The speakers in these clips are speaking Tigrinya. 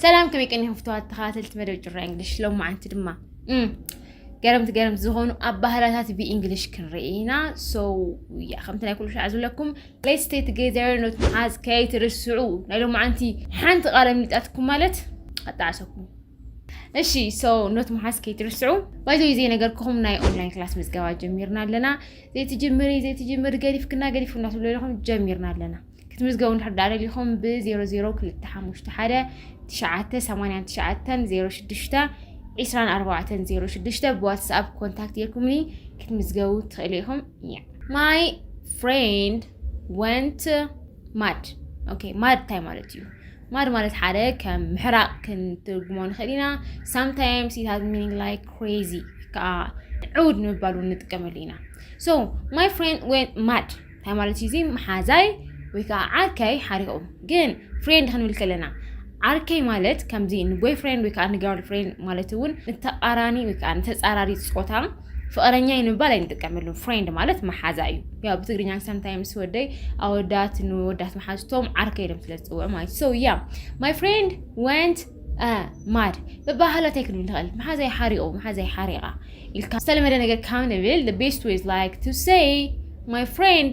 ሰላም ከመይ ቀኒኹም ፍትዋት ተኸታተልቲ መደብ ጭራ እንግሊሽ ሎማዓንቲ ድማ ገረምቲ ገረምቲ ዝኾኑ ኣባህላታት ብእንግሊሽ ክንርኢ ኢና ሶ ያ ከምቲ ናይ ኩሉ ሻዕ ዝብለኩም ሌት ስቴይ ቱጌዘር ኖት ምሓዝ ከይትርስዑ ናይ ሎማዓንቲ ሓንቲ ቃለ ምልጣትኩም ማለት ኣጣዕሰኩም እሺ ሶ ኖት ምሓዝ ከይትርስዑ ባይዘ ዘይነገርክኹም ናይ ኦንላይን ክላስ ምዝገባ ጀሚርና ኣለና ዘይትጅምሪ ዘይትጅምሪ ገዲፍክና ገዲፍክና ትብሉ ኣለኹም ጀሚርና ኣለና ክትምዝገቡ እንድሕር ዳኣ ደሊኹም ብ0025 98906 ብዋትስኣፕ ኮንታክት ጌርኩምኒ ክትምዝገቡ ትኽእሉ ኢኹም እያ ማይ ፍሬንድ ወንት ማድ ኦኬ ማድ እንታይ ማለት እዩ ማድ ማለት ሓደ ከም ምሕራቕ ክንትርጉሞ ንኽእል ኢና ሳምታይምስ ኢት ሃዝ ሚኒንግ ላይክ ክሬዚ ከዓ ዕውድ ንምባል እውን ንጥቀመሉ ኢና ሶ ማይ ፍሬንድ ወን ማድ እንታይ ማለት እዩ እዚ መሓዛይ ወይ ከዓ ዓርከይ ሓሪቑ ግን ፍሬንድ ክንብል ከለና ዓርከይ ማለት ከምዚ ንቦይ ፍሬንድ ወይ ከዓ ንጋርል ፍሬንድ ማለት እውን ንተቃራኒ ወይ ከዓ ንተፃራሪ ፆታ ፍቅረኛ ንምባል ኣይንጥቀመሉን። ፍሬንድ ማለት መሓዛ እዩ። ያው ብትግርኛ ሳምታይምስ ወደይ ኣወዳት ንወዳት መሓዝቶም ዓርከ ኢሎም ስለ ዝፅውዑ ማለት ሶ ያ ማይ ፍሬንድ ወንት ማድ ብባህላ እንታይ ክንብል ንኽእል መሓዛይ ሓሪቑ መሓዛይ ሓሪቓ ኢልካ ዝተለመደ ነገር ካብ ንብል ቤስት ዌዝ ላይክ ቱ ሰይ ማይ ፍሬንድ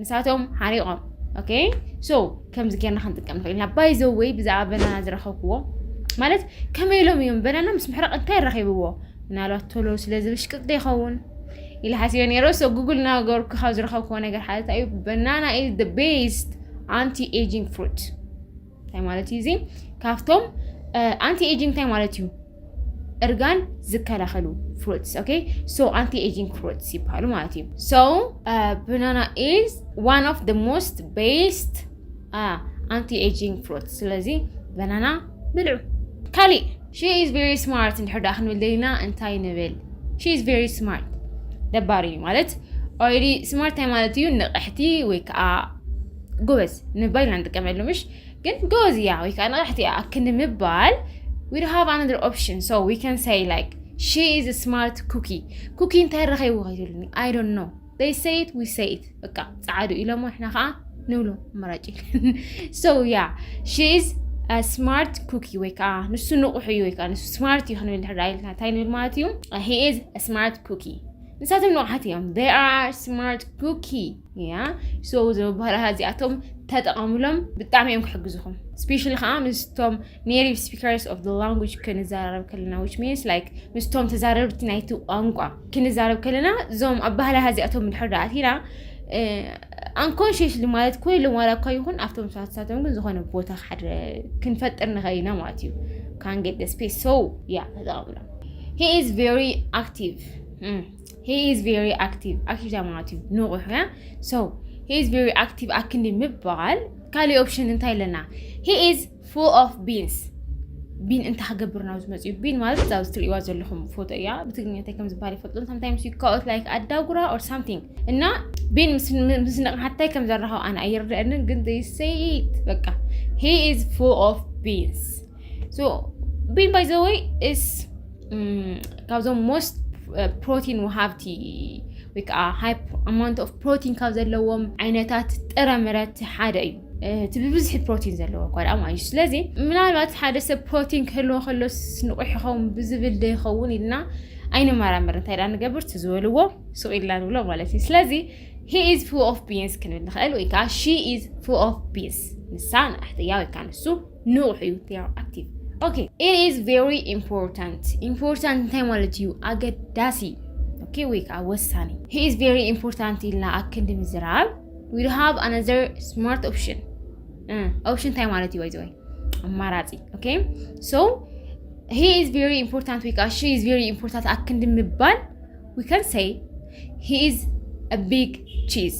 ንሳቶም ሓሪቖም ኦኬ ሶ ከምዚ ጌርና ክንጥቀም ንኽእል ኢና ባይ ዘ ወይ ብዛዕባ በናና ዝረኸብክዎ ማለት ከመይ ኢሎም እዮም በናና ምስ ምሕራቕ እንታይ ረኺብዎ ምናልባት ቶሎ ስለ ዝብሽቅጥ ዶ ይኸውን ኢለ ሓሲበ ነይረ ሶ ጉግል እናገበርኩ ካብ ዝረኸብክዎ ነገር ሓደ እንታይ እዩ በናና ኢዝ ደ ቤስት ኣንቲ ኤጂንግ ፍሩት እንታይ ማለት እዩ እዚ ካብቶም ኣንቲ ኤጂንግ እንታይ ማለት እዩ እርጋን ዝከላኸሉ ፍሩትስ ኦኬ ሶ ኣንቲ ኤጂንግ ፍሩትስ ይበሃሉ ማለት እዩ ሶ ብናና ኢዝ ዋን ኦፍ ደ ሞስት ቤስት ኣንቲ ኤጂንግ ፍሩት ስለዚ በናና ብልዑ ካሊእ ሺ ኢዝ ቨሪ ስማርት እንድሕር ዳኣ ክንብል ደሊና እንታይ ንብል ሺ ኢዝ ቨሪ ስማርት ደባሪ እዩ ማለት ኦልሬዲ ስማርት እንታይ ማለት እዩ ንቕሕቲ ወይ ከዓ ጎበዝ ንምባል ኢና ንጥቀመሉ ምሽ ግን ጎበዝ እያ ወይ ከዓ ንቕሕቲ እያ ኣክ ንምባል ዊ ሃቭ ኣናደር ኦፕሽን ሶ ዊ ካን ሰይ ላይክ ሺ ኢዝ ስማርት ኩኪ ኩኪ እንታይ ረኸይዎ ከይትብልኒ ኣይ ዶንት ኖ ደይ ሰይት ዊ ሰይት በቃ ፀዓዱ ኢሎሞ ንሕና ከዓ ንብሎ ኣማራጭ ሶ ያ ሺ ኢዝ ስማርት ኩኪ ወይ ከዓ ንሱ ንቑሑ እዩ ወይ ከዓ ንሱ ስማርት እዩ ክንብል ድሕር ኢልና እንታይ ንብል ማለት እዩ ሂ ኢዝ ስማርት ኩኪ ንሳቶም ንቑሓት እዮም ዴይ ኣር ስማርት ኩኪ ያ ሶ ዝበሃላ እዚኣቶም ተጠቐምሎም ብጣዕሚ እዮም ክሕግዙኹም ስፔሻሊ ከዓ ምስቶም ኔቲቭ ስፒከርስ ኦፍ ላንጉጅ ክንዘራረብ ከለና ዊች ሚንስ ላይክ ምስቶም ተዛረብቲ ናይቲ ቋንቋ ክንዛረብ ከለና እዞም ኣባህላ እዚኣቶም ድሕር ዳኣቲና ኣንኮንሽስሊ ማለት ኮይ ኢሎም ዋላ እኳ ይኹን ኣብቶም ሰዓትሳቶም ግን ዝኾነ ቦታ ሓደ ክንፈጥር ንኽእል ኢና ማለት እዩ ካንጌት ስፔስ ሶ ያ ተጠቐምሎም ሂ ኢዝ ቨሪ ኣክቲቭ ሂ ኢዝ ቬሪ ኣክቲቭ ኣክቲቭ እንታይ ማለት እዩ ንቑሕ ያ ሶ ሂ ኢዝ ቬሪ ኣክቲቭ ኣክንዲ ምባል ካልእ ኦፕሽን እንታይ ኣለና ሂ ኢዝ ፉል ኦፍ ቢንስ ቢን እንታይ ክገብር ናብ ዝመፅ እዩ ቢን ማለት እዛ ኣብዚ ትርእይዋ ዘለኹም ፎቶ እያ ብትግርኛ እንታይ ከም ዝበሃል ይፈልጡ ሳምታይምስ ዩ ካኦት ላይክ ኣዳጉራ ኦር ሳምቲንግ እና ቢን ምስ ንቕሓታይ ከም ዘራኸብ ኣነ ኣይርድአንን ግን ዘይሰይት በቃ ሂ ኢዝ ፉል ኦፍ ቢንስ ሶ ቢን ባይ ዘ ወይ እስ ካብዞም ሞስት ፕሮቲን ወሃብቲ ወይ ከዓ ሃይ ኣማውንት ኦፍ ፕሮቲን ካብ ዘለዎም ዓይነታት ጥረ ምረት ሓደ እዩ እቲ ብብዝሒ ፕሮቲን ዘለዎ እኳ ደኣ ማለት እዩ ስለዚ ምናልባት ሓደ ሰብ ፕሮቲን ክህልዎ ከሎ ንቑሕ ይኸውን ብዝብል ዶ ይኸውን ኢልና ኣይንመራመር እንታይ ደኣ ንገብር እቲ ዝበልዎ ሱቕ ኢልና ንብሎ ማለት እዩ ስለዚ ሂ ኢዝ ፉ ኦፍ ቢንስ ክንብል ንኽእል ወይ ከዓ ሺ ኢዝ ፉ ኦፍ ቢንስ ንሳ ንኣሕትያ ወይ ከዓ ንሱ ንቑሕ እዩ ቴራ ኣክቲቭ ኦኬ ኢት ኢዝ ቬሪ ኢምፖርታንት ኢምፖርታንት እንታይ ማለት እዩ ኣገዳሲ ኦኬ ወይ ከዓ ወሳኒ ሂ ኢዝ ቬሪ ኢምፖርታንት ኢልና ኣክንዲ ምዝራብ ዊ ዱ ሃቭ ኣናዘር ስማርት ኦፕሽን ኦፕሽን እንታይ ማለት እዩ ወይዘወይ ኣማራፂ ኦኬ ሶ ሂ ኢዝ ቬሪ ኢምፖርታንት ወይ ከዓ ሺ ኢዝ ቬሪ ኢምፖርታንት ኣክንዲ ምባል ዊ ካን ሰይ ሂ ኢዝ አ ቢግ ቺዝ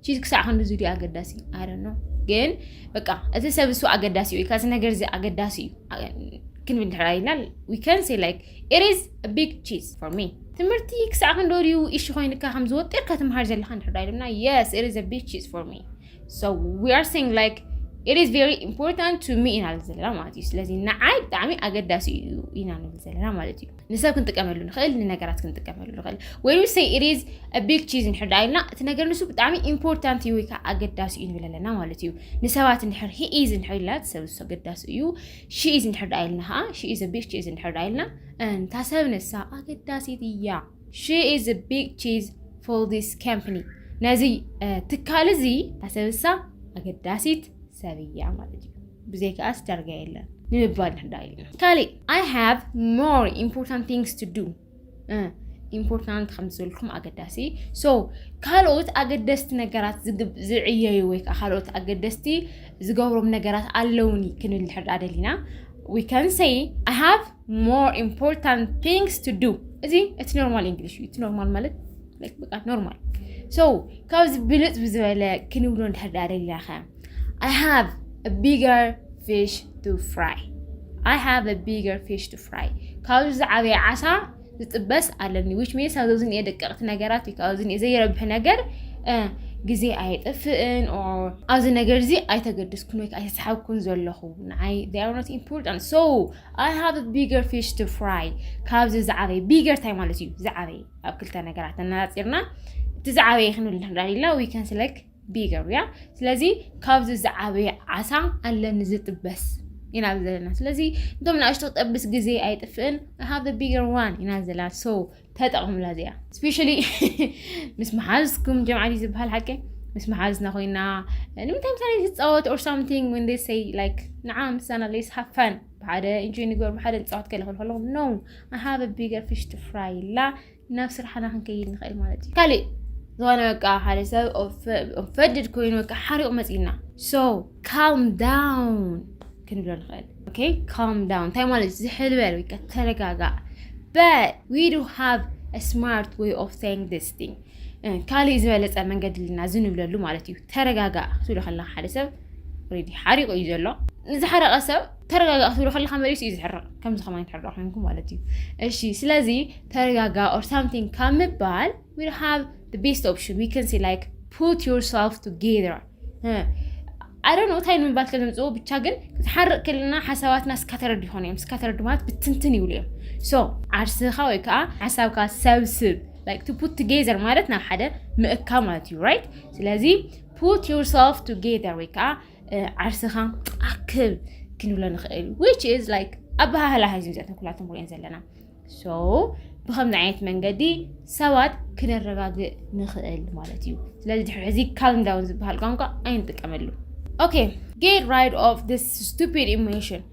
ቺዝ ክሳዕ ክንዲ ዙዲ ኣገዳሲ ኣይደኖ ግን በቃ እቲ ሰብ እሱ ኣገዳሲ እዩ ካዚ ነገር እዚ ኣገዳሲ እዩ ክንብል ድሕር ኣይላል ዊከን ሴ ላይክ ኢሪዝ ቢግ ቺዝ ፎር ሚ ትምህርቲ ክሳዕ ክንዶ ድዩ ኢሹ ኮይንካ ከም ዝወጢርካ ትምሃር ዘለካ ንድሕር ኣይልና የስ ኢሪዝ ቢግ ቺዝ ፎር ሚ ሶ ዊ ኣር ሲንግ ላይክ ኢት ኢዝ ቨሪ ኢምፖርታንት ቱ ሚ ኢና ንብል ዘለና ማለት እዩ ስለዚ ንዓይ ብጣዕሚ ኣገዳሲ እዩ ኢና ንብል ዘለና ማለት እዩ ንሰብ ክንጥቀመሉ ንኽእል ንነገራት ክንጥቀመሉ ንኽእል ወይ ንሰይ ኢሪዝ ቢግ ቺዝ እንድሕር ደኣ ኢልና እቲ ነገር ንሱ ብጣዕሚ ኢምፖርታንት እዩ ወይ ከዓ ኣገዳሲ እዩ ንብል ኣለና ማለት እዩ ንሰባት እንድሕር ሂኢዝ እንድሕር ኢልና ሰብ ንሱ ኣገዳሲ እዩ ሺኢዝ እንድሕር ደኣ ኢልና ከዓ ሺኢዝ ቢግ ቺዝ እንድሕር ደኣ ኢልና እንታ ሰብ ንሳ ኣገዳሲት እያ ሺኢዝ ቢግ ቺዝ ፎር ዚስ ካምፕኒ ነዚ ትካል እዚ ታሰብሳ ኣገዳሲት ሰብ እያ ማለት እዩ ብዘይካኣስ ዳርጋ የለን ንምባል ንሕዳ ኢልና ካሊእ ኣይ ሃቭ ሞር ኢምፖርታንት ቲንግስ ቱ ዱ ኢምፖርታንት ከም ዝበልኩም ኣገዳሲ ሶ ካልኦት ኣገደስቲ ነገራት ዝዕየዩ ወይ ከዓ ካልኦት ኣገደስቲ ዝገብሮም ነገራት ኣለውኒ ክንብል ንሕዳ ደሊና ዊ ካን ሰይ ኣይ ሃቭ ሞር ኢምፖርታንት ቲንግስ ቱ ዱ እዚ እቲ ኖርማል እንግሊሽ እዩ እቲ ኖርማል ማለት በቃ ኖርማል ሶ ካብዚ ብልፅ ብዝበለ ክንብሎ እንድሕር ደኣ ደሊና ከ I have a bigger fish to fry. I have a bigger fish to fry. ካብዚ ዝዓበየ ዓሳ ዝጥበስ ኣለኒ ዊች ሚንስ ኣብዚ ዝኒኤ ደቀቕቲ ነገራት እዩ ካብዚ ዝኒኤ ዘይረብሕ ነገር ግዜ ኣየጥፍእን ኣብዚ ነገር እዚ ኣይተገድስኩን ወይ ኣይተሰሓብኩን ዘለኹ ንዓይ ኖት ኢምፖርታንት ሶ ኣይ ሃቭ ቢገር ፊሽ ቱ ፍራይ ካብዚ ዝዓበየ ቢገር ታይ ማለት እዩ ዝዓበየ ኣብ ክልተ ነገራት እናፂርና እቲ ዝዓበየ ክንብል ንኽእል ኢና ዊከን ስለክ ቢገር ያ ስለዚ ካብዚ ዝዓበየ ዓሳ ኣለኒ ዝጥበስ ኢና ዘለና ስለዚ እንቶም ንኣሽቶ ክጠብስ ግዜ ኣይጥፍእን ሃብ ቢገር ዋን ኢና ዘለና ሶ ተጠቕሙላ እዚኣ ስፔሻሊ ምስ መሓዝኩም ጀምዓዲ ዝበሃል ሓቂ ምስ መሓዝና ኮይና ንምንታይ ምሳሌ ዝፃወት ኦር ሳምቲንግ ወን ዴይ ሰይ ላይክ ንዓ ምሳና ሌስ ሃፋን ብሓደ ኢንጆይ ንግበር ብሓደ ንፃወት ከለክል ከለኹ ኖ ኣሃበ ቢገር ፊሽ ቱ ፍራይ ኢላ ናብ ስራሕና ክንከይድ ንኽእል ማለት እዩ ካሊእ ዝኾነ በቃ ሓደ ሰብ ፈድድ ኮይኑ በቃ ሓሪቑ መፂና ሶ ካልም ዳውን ክንብሎ ንኽእል ኦኬ ካልም ዳውን እንታይ ማለት ዝሕል በል ወይ ከዓ ተረጋጋእ በት ዊ ዱ ሃቭ ስማርት ወይ ኦፍ ሴይንግ ዲስ ቲንግ ካልእ ዝበለፀ መንገዲ ልና እዚ ንብለሉ ማለት እዩ ተረጋጋእ ክትብሎ ከለካ ሓደ ሰብ ሬዲ ሓሪቑ እዩ ዘሎ ንዝሓረቐ ሰብ ተረጋጋ ክትብሎ ከለካ መሪሱ እዩ ዝሕርቕ ከምዚ ከማን ትሕርቕ ኮንኩ ማለት እዩ እሺ ስለዚ ተረጋጋ ኦር ሳምቲንግ ካብ ምባል ዊ ሃቭ the best option we can say like put yourself together ኣይ ዶንት ኖ እንታይ ንምባል ከምፅኡ ብቻ ግን ክትሓርቕ ክልና ሓሳባትና ስካተረድ ይኾኑ እዮም ስካተረድ ማለት ብትንትን ይብሉ እዮም ሶ ዓርስኻ ወይ ከዓ ሓሳብካ ሰብስብ ላይክ ቱ ፑት ቱጌዘር ማለት ናብ ሓደ ምእካ ማለት እዩ ራይት ስለዚ ፑት ዮርሰልፍ ቱጌዘር ወይ ከዓ ዓርስኻ ኣክብ ክንብሎ ንኽእል ዊች ኢዝ ላይክ ኣበሃህላ ሃይዝም ዘተን ኩላቶም ሪኦን ዘለና ሶ ብከምዚ ዓይነት መንገዲ ሰባት ክነረጋግእ ንኽእል ማለት እዩ ስለዚ ድሕሪ ሕዚ ካልምዳውን ዝበሃል ቋንቋ ኣይንጥቀመሉ ኦኬ ጌት ራይድ ኦፍ ስ ስቱፒድ ኢሞሽን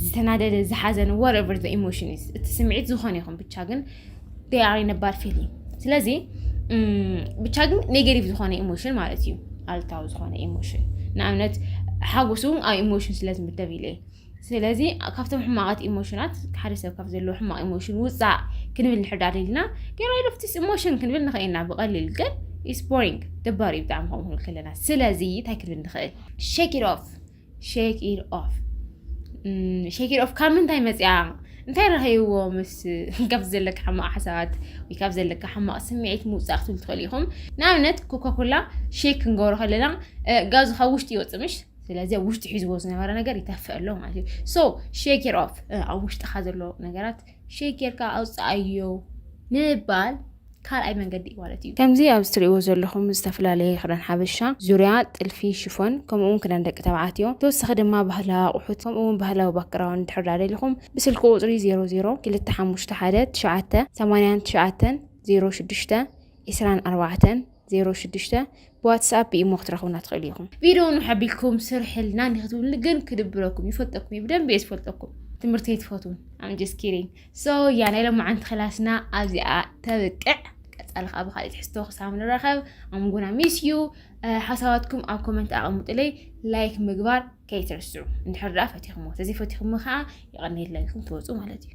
ዝተናደደ ዝሓዘነ ወረቨር ዘ ኢሞሽን እቲ ስምዒት ዝኾነ ይኹን ብቻ ግን ዴኣሪ ነባር ፊል እዩ ስለዚ ብቻ ግን ኔጌቲቭ ዝኾነ ኢሞሽን ማለት እዩ ኣልታዊ ዝኾነ ኢሞሽን ንኣብነት ሓጎስ እውን ኣብ ኢሞሽን ስለ ዝምደብ ኢለ ስለዚ ካብቶም ሕማቃት ኢሞሽናት ሓደ ሰብ ካብ ዘለዎ ሕማቅ ኢሞሽን ውፃእ ክንብል ንሕዳ ደልና ገራይዶፍቲስ ኢሞሽን ክንብል ንኽእልና ብቀሊል ግን ኢስ ቦሪንግ ደባሪ ብጣዕሚ ከምኡ ክንብል ከለና ስለዚ እንታይ ክንብል ንኽእል ሸክ ኦፍ ሼክ ኢድ ኦፍ ሼክ ኢድ ኦፍ ካብ ምንታይ መፅያ እንታይ ረኸይዎ ምስ ካብ ዘለካ ሕማቕ ሓሳባት ወይ ካብ ዘለካ ሕማቕ ስምዒት ምውፃእ ክትብል ትኽእል ኢኹም ንኣብነት ኮካኮላ ሼክ ክንገብሮ ከለና ጋዙ ካብ ውሽጢ ይወፅእ ምሽ ስለዚ ኣብ ውሽጢ ሒዝዎ ዝነበረ ነገር ይተፍእ ኣሎ ማለት እዩ ሶ ሼክ ኢድ ኦፍ ኣብ ውሽጥካ ዘሎ ነገራት ሼክ ጌርካ ኣውፅኣዮ ምባል ካልኣይ መንገዲ እዩ ማለት እዩ ከምዚ ኣብዚ ትሪእዎ ዘለኹም ዝተፈላለየ ክዳን ሓበሻ ዙርያ ጥልፊ ሽፎን ከምኡ እውን ክዳን ደቂ ተባዕትዮ ተወሳኺ ድማ ባህላዊ ኣቑሑት ከምኡ እውን ባህላዊ ባክግራውንድ ድሕር ዳደሊኹም ብስልኪ ቁፅሪ 002519890 ሸዱሽተ ዒስራን ኣርባዕተን 06 ብዋትስኣፕ ብኢሞ ክትረኽቡና ትኽእሉ ኢኹም። ቪድዮ ን ሓቢልኩም ስርሕልና ንክትብሉ ግን ክድብረኩም ይፈልጠኩም እዩ ብደንብ እየ ዝፈልጠኩም ትምህርቲ ኣይትፈትውን ኣምጀስ ኪሪን ሶ ያ ናይ ሎማዓንቲ ክላስና ኣብዚኣ ተብቅዕ ቀፃሊ ከዓ ብካሊእ ትሕዝቶ ክሳብ ንራኸብ ኣምጉና ሚስ ዩ ሓሳባትኩም ኣብ ኮመንት ኣቐምጡለይ ላይክ ምግባር ከይትርስዑ እንድሕር ደኣ ፈቲኹሞ ተዘይፈቲኹሞ ከዓ ይቐኒየለይኩም ትወፁ ማለት እዩ